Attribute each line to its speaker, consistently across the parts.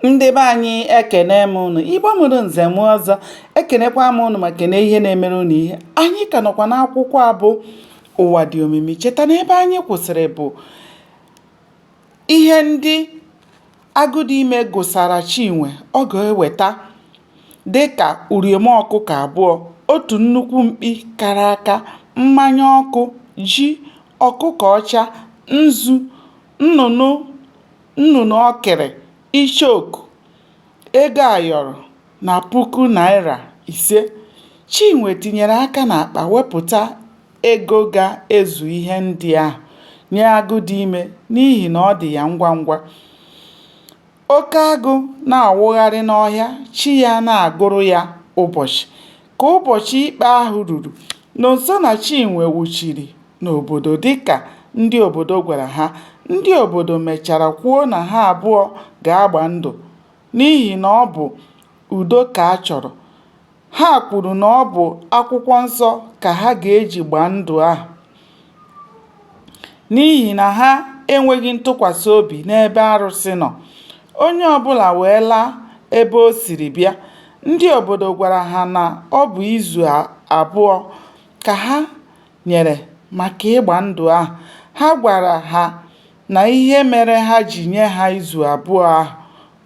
Speaker 1: ndị be anyị ekene m ụnụ igbo mụrụ nze mụọ ọzọ ekenekwa m ụnụ ma kene ihe na-emere ụnụ ihe anyị ka nọkwa n'akwụkwọ a bụ ụwa dị omimi cheta na ebe anyị kwụsịrị bụ ihe ndị agụdịime gụsara chinwe ọ ga-eweta dịka uriom ọkụkọ abụọ otu nnukwu mkpi kara aka mmanya ọkụ ji ọkụkọ ọcha nzu nnụnụ nnụnụ ọkịrị, icheoku, ego ayọrọ na puku naịra ise. Chinwe tinyere aka n'akpa wepụta ego ga-ezu ihe ndị ahụ nye Agụdịime n'ihi na ọ dị ya ngwa ngwa. Oke agụ na-awụgharị n'ọhịa, chi ya na-agụrụ ya ụbọchị. Ka ụbọchị ikpe ahụ ruru, Nonso na Chinwe wuchiri n'obodo dịka ndị obodo gwara ha. Ndị obodo mechara kwuo na ha abụọ ga-agba ndụ n'ihi na ọ bụ udo ka a chọrọ. Ha kwuru na ọ bụ akwụkwọ nsọ ka ha ga-eji gbaa ndụ ahụ. n'ihi na ha enweghị ntụkwasị obi n'ebe arụsị nọ. Onye ọbụla wee laa ebe o siri bịa. Ndị obodo gwara ha na ọ bụ izu abụọ ka ha nyere maka ịgba ndụ ahụ. Ha gwara ha na ihe mere ha ji nye ha izu abụọ ahụ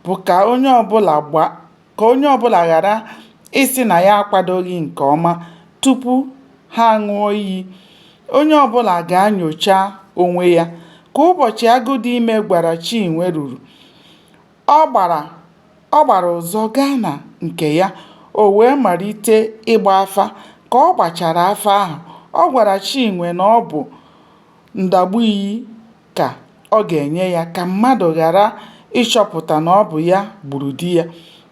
Speaker 1: bụ ka onye ọbụla gbaa. ka onye ọbụla ghara ịsị na ya akwadoghị nke ọma tupu ha aṅụọ iyi. Onye ọbụla ga-anyocha onwe ya. Ka ụbọchị Agụdịime gwara Chinwe ruru, ọ gbara ọ gbara ụzọ gaa na nke ya. O wee malite ịgba afa. Ka ọ gbachara afa ahụ, ọ gwara Chinwe na ọ bụ ndagbu iyi ka ọ ga-enye ya ka mmadụ ghara ịchọpụta na ọ bụ ya gburu di ya.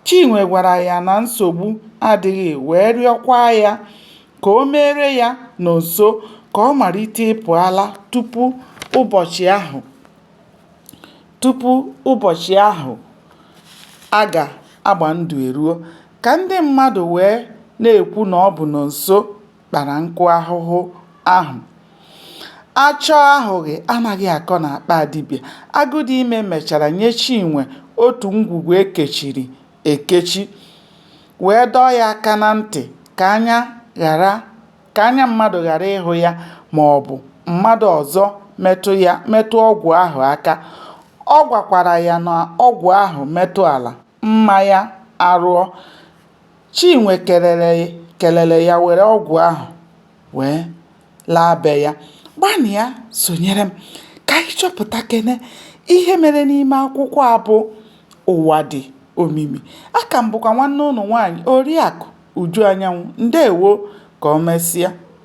Speaker 1: Chinwe gwara ya na nsogbu adịghị wee rịọkwa ya ka o meere ya Nonso ka ọ malite ịpụ ala tupu ụbọchị ahụ tupu ụbọchị ahụ a ga-agba ndụ eruo, ka ndị mmadụ wee na-ekwu na ọ bụ Nonso. kpara nkụ ahụhụ ahụ achọọ ahụghị anaghị akọ n'akpa dibịa agụdịime mechara nye chinwe otu ngwugwu e kechiri ekechi wee dọọ ya aka na ntị ka anya ghara ka anya mmadụ ghara ịhụ ya ma ọ bụ mmadụ ọzọ metụ ya metụ ọgwụ ahụ aka ọ gwakwara ya na ọgwụ ahụ metụ ala mma ya arụọ. Chinwe kelere ya were ọgwụ ahụ wee laa be ya. Gbanịa sonyere m ka anyị chọpụtakene ihe mere n'ime akwụkwọ a bụ Ụwa dị omimi. Aka m bụkwa nwanne unu nwaanyị Oriakụ Uju Anyanwụ. Ndeewo. Ka o mesịa.